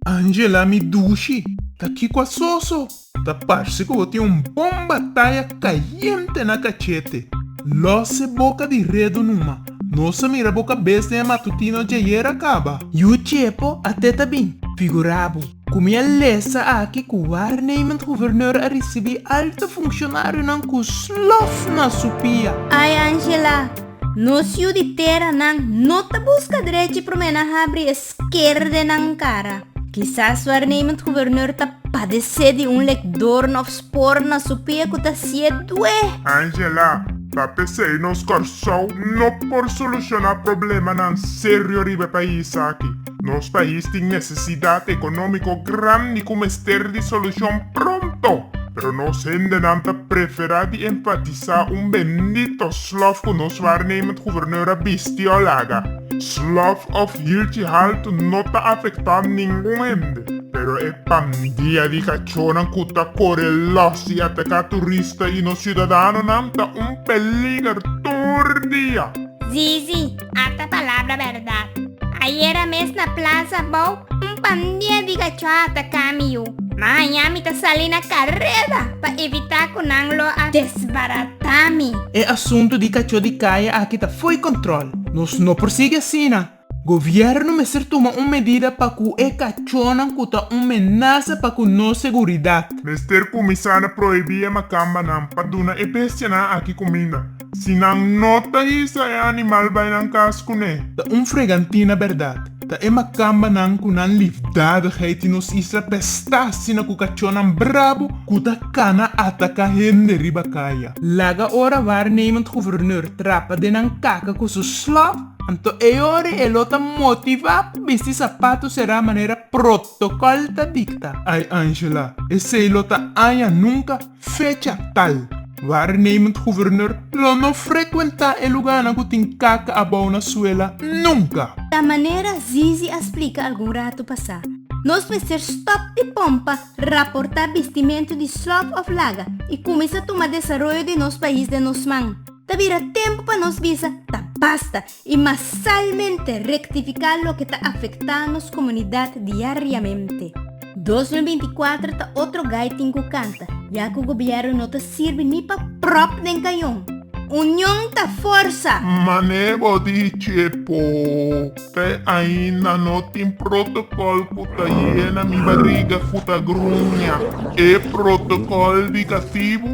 Angela mi dushi, ta kiko a soso? Ta parse ku bo tin un bon bataya kayente na kachete. Lòs e boka di redu numa. Nos a mira bo kabes den e matutino djayera kaba. Yu chepo, a teta bin, figurabo. Ku miel lesa aki ku waarnemend gobernur a risibi alto funshonarionan ku slof na su pia. Ai Angela, nos yu di tera nan no ta buska drechi promé na habri e skerde nan kara. Kisas waarnemend gobernur ta padesé di un lekdorn òf spor na su pia ku ta sié dué. Angela, pa pesei nos Kòrsou no por solushoná problemanan serio riba e pais aki. Nos pais tin nesesidat ekonómiko grandi ku mester di solushon pronto, pero nos hendenan ta preferá di enfatisá un bendito slòf ku nos waarnemend guverneur a bisti òf laga. Slòf òf hilchi haltu no ta afektá ningun hende, pero e pandia di kachonan ku ta kore lòs i ataká turista i nos siudadanonan ta un peliger tur dia. Zizi, Ata palabra bèrdat. Ayera mes na plas abou, un pandia di gachua a ataka mi yu. Maña mi ta sali na kareda pa evitá ku nan lo a desbaratá mi. E asuntu di kachó di kaya aki ta fo'i kòntròl. Nos no por sigui asina. Gobièrnu mester tuma un medida pa ku e kachónan ku ta un menasa pa ku nos seguridat. Mester kuminsá na prohibí e makambanan pa duna e bestianan aki kuminda. Si nan no ta hisa e animal bai nan kas kuné. Ta un fregantina bèrdat. Ta e makambanan ku nan lifdadigheid tin nos isla pestá asina ku kachónan brabo ku ta kana ataká hende riba kaya. Laga ora waarnemend guverneur trapa den nan kaka ku su slop, anto e ora e lo ta motivá pa bisti sapatu será manera protokòl ta dikta. Ai Angela, esei lo ta aña nunka. Fecha tal, Waarnemend Gouverneur lo no frecuenta e luganan cu tin caca abao na suela nunca. Ta manera Zizi a splica algun rato pasá, nos mester stop di pompa raporta bistimento di slop of laga y cuminsa tuma desaroyo di nos pais den nos man. Ta bira tempo pa nos bisa ta basta I masalmente rektifiká loke ta afektá nos komunidat diariamente. Dos mil binti kuater ta otro gai tin ku kanta, ya ku gobièrnu no ta sirbi ni pa pròp den kayon. Union ta forsa! Man'é bo dichi e po p'e ainda no tin protokòl ku ta yena mi bariga ku ta gruña. E protokòl di katibu